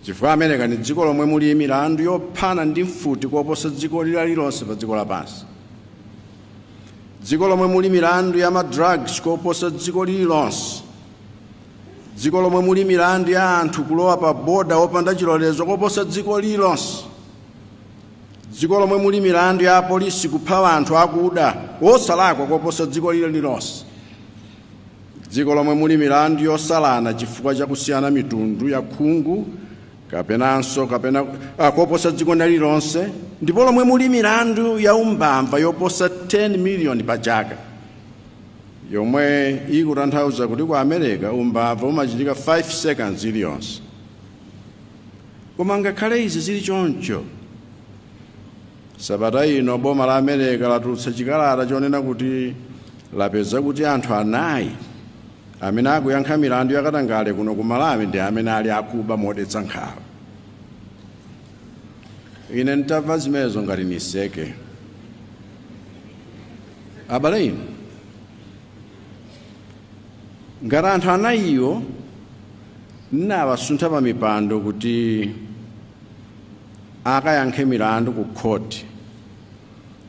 chifukwa america ndi dziko lomwe muli milandu yophana ndi mfuti koposa dziko lililonse pa dziko lapansi dziko lomwe muli milandu ya ma drugs koposa dziko lililonse dziko lomwe muli milandu ya anthu kulowa pa boda opanda chilolezo koposa dziko lililonse dziko lomwe muli milandu ya apolisi kupha anthu akuda wosalakwa koposa dziko lililonse Dziko lomwe muli milandu yosalana chifukwa cha kusiyana mitundu ya khungu kapenanso kapena ah, koposa dziko lina lililonse dziko lomwe muli milandu ya umbava yoposa 10 miliyoni pa chaka yomwe ikutanthauza kuti ku america umbava umachitika 5 seconds iliyonse Koma ngakhale izi zili choncho, sabata ino boma la America latulutsa chikalata chonena kuti lapeza kuti anthu anayi amene akuyankha milandu yakatangale kuno ku Malawi ndi amene ali akuba modetsa nkhawa. Ine ntamva zimenezi ngati niseke. Abale inu, Ngati anthu anayiwo n'nawasuntha pa mipando kuti akayankhe milandu ku khoti,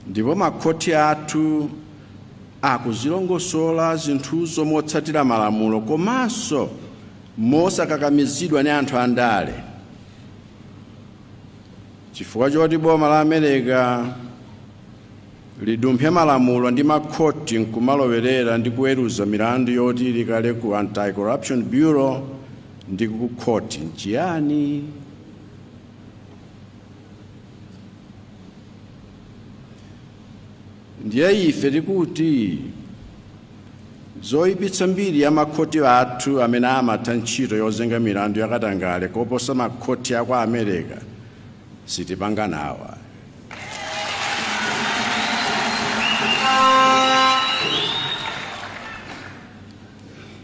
ndipo makhoti athu akuzilongosola zinthuzo motsatira malamulo komanso mosakakamizidwa ni anthu andale, chifukwa choti boma la America lidumphe malamulo ndi makhoti n'kumalowerera ndi kuweruza milandu yoti ili kale ku Anti-Corruption Bureau ndi kukhoti n'chiyani? Ndiye ife tikuti zoipitsa mbiri ya makhoti athu amene amatha ntchito yozenga milandu yakatangale koposa makhoti a ku America sitipanga nawo ayi.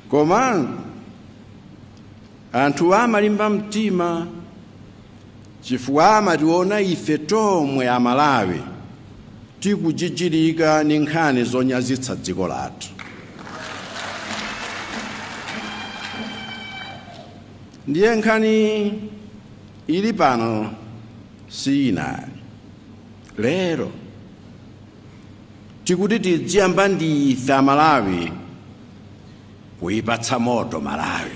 Koma anthuwa amalimba mtima chifukwa amationa ife tomwe amalawi tikujijirika ndi nkhani zonyazitsa dziko lathu ndiye nkhani Ili pano si yina ayi lero tikuti tidziyamba ndi ife amalawi kuipatsa moto malawi